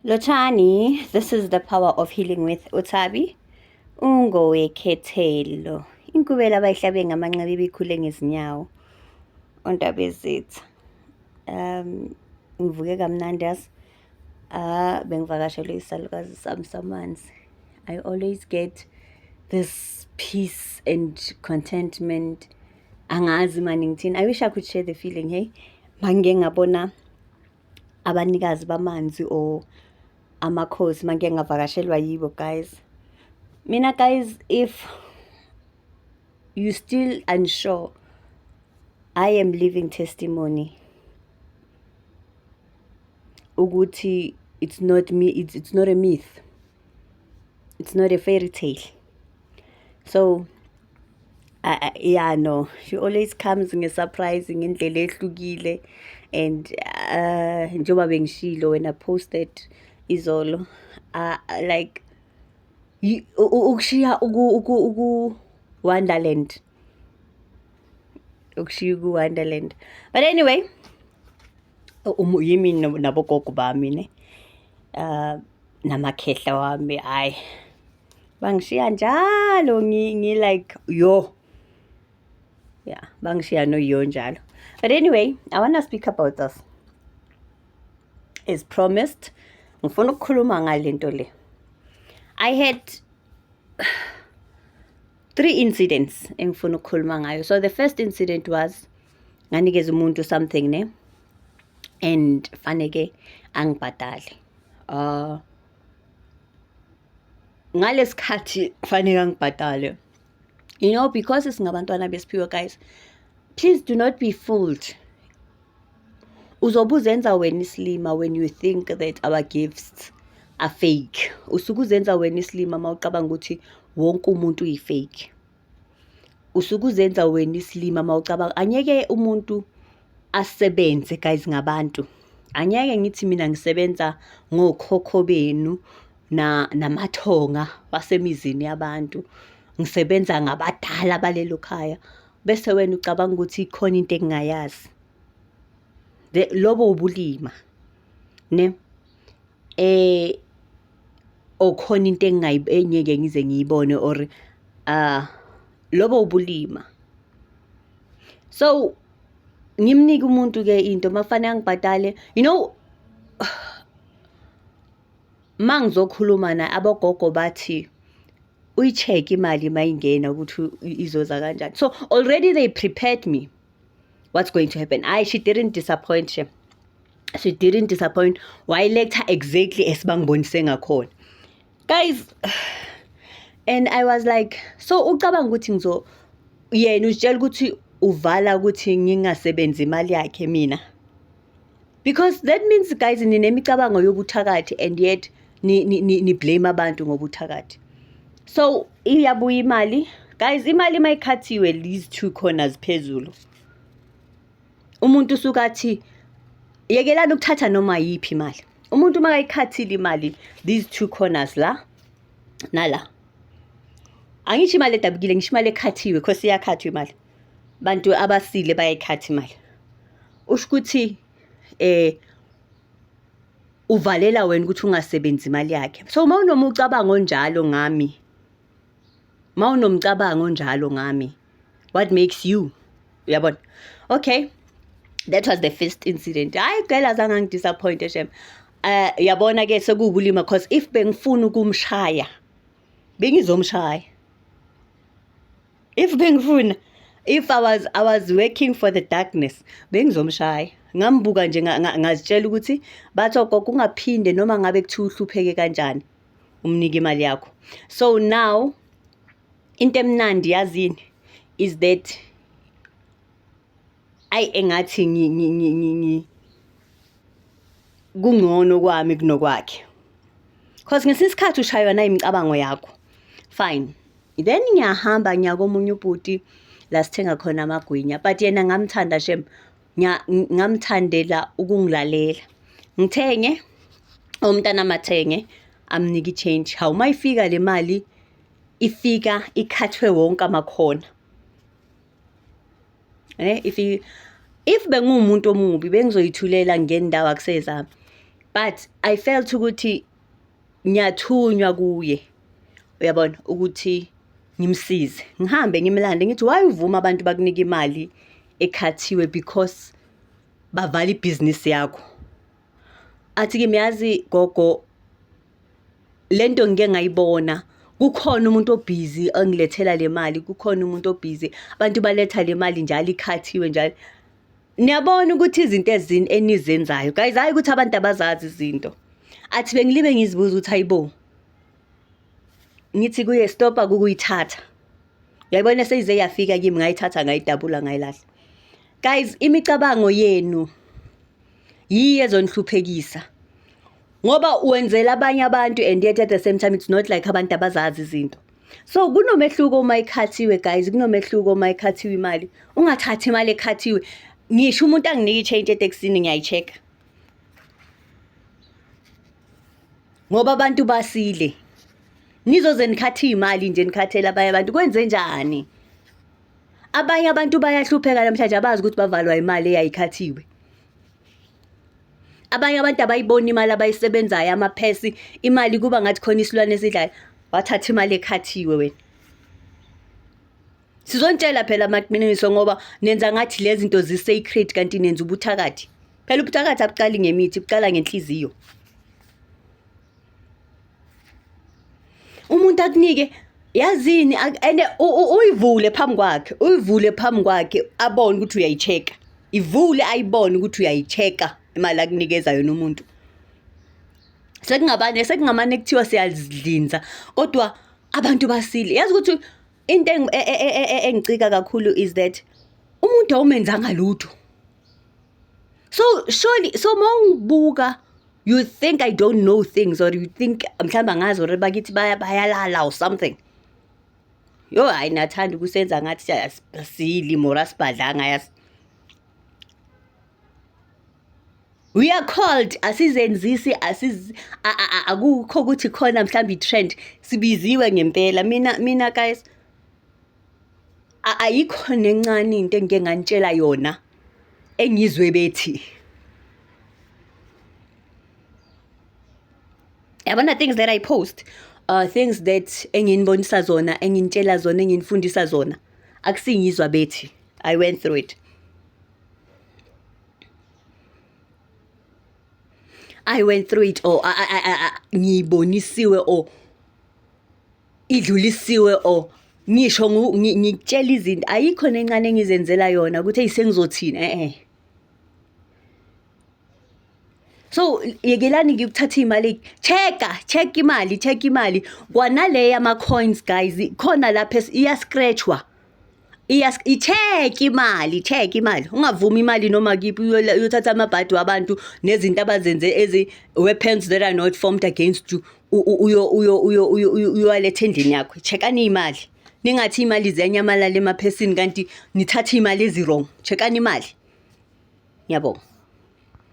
Lotshani, this is the power of healing with Uthabi. Ungowekhethelo. Inkubela abayihlabe ngamanxeba ibikhule ngezinyawo. Ontaba ezitha. Um ngivuke kamnandi yazi. Ah bengivakashelwe isalukazi sami samanzi. I always get this peace and contentment. Angazi mani ngithini. I wish I could share the feeling, hey. Mangike ngabona abanikazi bamanzi or amakhosi uma ngike ngavakashelwa yibo guys mina guys if you still unsure i am living testimony ukuthi it's not me it's, it's not a myth it's not a fairy tale so Uh, uh, yeah no she always comes nge-surprise ngendlela ehlukile and uh, njengoba bengishilo when i posted izolo uh, like ukushiya uku-wonderland ukushiya uku-wonderland but anyway um, yimi nabogogo bami ne uh, namakhehla wami hhayi bangishiya njalo ngi like yo yeah bangishiya no yo njalo but anyway i want to speak about this as promised ngifuna ukukhuluma ngalento le i had three incidents engifuna ukukhuluma ngayo so the first incident was nganikeza umuntu something ne and faneke angibhadale uh ngalesikhathi kufanele ngibhadale you know because singabantwana besiphiwe guys please do not be fooled uzobe uzenza wena isilima when you think that our gifts are fake usuke uzenza wena isilima uma ucabanga ukuthi wonke umuntu uyifake usuke uzenza wena isilima mawucabanga anyeke umuntu asebenze guys ngabantu anyeke ngithi mina ngisebenza ngokhokho benu na namathonga basemizini yabantu ngisebenza ngabadala balelo khaya bese wena ucabanga ukuthi ikhona into engingayazi lobo ubulima ne eh or khona into engingeke ngize ngiyibone or uh, lobo ubulima so ngimnike umuntu ke into mafanele angibhadale you know mangizokhuluma na abogogo bathi uyi-check imali mayingena ukuthi izoza kanjani so already they prepared me what's going to happen hayi she didn't disappoint she she didn't disappoint wayiletha exactly esibangibonise ngakhona guys and i was like so ucabanga ukuthi ngizo yena uzitshela ukuthi uvala ukuthi ngingasebenzi imali yakhe mina because that means guys ninemicabango yobuthakathi and yet ni-blame abantu ngobuthakathi so iyabuya imali guys imali uma ikhathiwe these two corners phezulu umuntu usuke athi yekelani ukuthatha noma yiphi imali umuntu uma kayikhathile imali these two corners la nala angisho imali edabukile ngisho imali ekhathiwe khose iyakhathwa imali bantu abasile bayayikhatha imali usho ukuthi eh uvalela wena ukuthi ungasebenzi imali yakhe so uma unoma ucabango onjalo ngami uma unomcabango onjalo ngami what makes you uyabona okay that was the first incident hayi cela zange ngidisappointe shem eh yabona ke sekuwubulima because if bengifuna ukumshaya bengizomshaya if bengifuna if i was i was working for the darkness bengizomshaya ngambuka nje ngazitshela ukuthi bathi ogogo ungaphinde noma ngabe kuthiwa uhlupheke kanjani umnike imali yakho so now into emnandi yazini is that ayi engathi ngi ngi ngi ngi ngi kungcono kwami kunokwakhe cause ngesinye isikhathi ushaywa nayimicabango yakho fine then ngiyahamba ngiya komunye ubhuti la sithenga khona amagwinya but yena ngamthanda shem ngamthandela ukungilalela ngithenge umntana amathenge amnika i-change hawu uma ifika le mali ifika ikhathwe wonke amakhona eh if you, if bengumuntu omubi bengizoyithulela ngendawo akusezami but i felt ukuthi ngiyathunywa kuye uyabona ukuthi ngimsize ngihambe ngimlande ngithi why uvuma abantu bakunika imali ekhathiwe because bavala ibhizinisi yakho athi kimi yazi gogo lento ngike ngayibona kukhona umuntu obhizi ongilethela le mali kukhona umuntu obhizi abantu baletha le mali njalo ikhathiwe njalo niyabona ukuthi izinto ezini enizenzayo guys hayi ukuthi abantu abazazi izinto athi bengilibe ngizibuza ukuthi hayibo ngithi kuye stopa kukuyithatha yayibona seyize yafika kimi ngayithatha ngayidabula ngayilahla guys imicabango yenu yiyo ezonihluphekisa ngoba wenzela abanye abantu and yet at the same time it's not like abantu abazazi izinto so kunomehluko uma ikhathiwe guys kunomehluko uma ikhathiwe imali ungathathi imali ekhathiwe ngisho umuntu anginike i-change etekisini ngiyayi-check-a ngoba abantu basile nizoze nikhathe iy'mali nje nikhathele abanye abantu kwenze njani abanye abantu bayahlupheka namhlanje abazi ukuthi bavalwa imali eyayikhathiwe abanye abantu abayiboni imali abayisebenzayo amaphesi imali kuba ngathi khona isilwane esidlayo wathatha imali ekhathiwe wena sizontshela phela amaqiniso ngoba nenza ngathi lezi zinto zi-sacred kanti nenza ubuthakathi phela ubuthakathi abuqali ngemithi buqala ngenhliziyo umuntu akunike yazini ene uyivule phambi kwakhe uyivule phambi kwakhe abone ukuthi uyayicheka ivule ayibone ukuthi uyayicheka imali akunikeza yona umuntu sekungabane sekungamane kuthiwa siyazidlinza kodwa abantu basile yazi ukuthi into e, e, e, engicika kakhulu is that umuntu awumenzanga lutho so surely so mawungibuka you think i don't know things or you think mhlawumbe angazi or bakithi bayalala or something yo hayi nathanda ukusenza ngathi asili mora sibhadlanga yas we are called asizenzisi asiz akukho ukuthi khona mhlawumbe i-trend sibiziwe ngempela mina mina guys ayikho nencane into engike nganitshela yona engizwe bethi yabona things that i post uh, things that enginibonisa zona enginitshela zona enginifundisa zona akusingizwa bethi i went through it i went through it or ngiyibonisiwe or idlulisiwe or ngisho ngikutshela izinto ayikho nencane engizenzela yona ukuthi eyi sengizothini e-e so yekelani ngikuthatha iy'mali check-a check imali check imali kwanale yama-coins guys khona lapha iya-scratch-wa Iyas itheki imali, itheki imali. Ungavumi imali noma kiphi uyola- uyothatha amabhadi wabantu nezinto abazenze ezi weapons that are not formed against you. U- u- Uyo uyo uyo uyo uyo- uyowaletha endlini yakho. Chekani imali. Ningathi imali ziyanyamalala emaphesini kanti nithatha imali ezi wrong. Chekani imali. Ngiyabonga.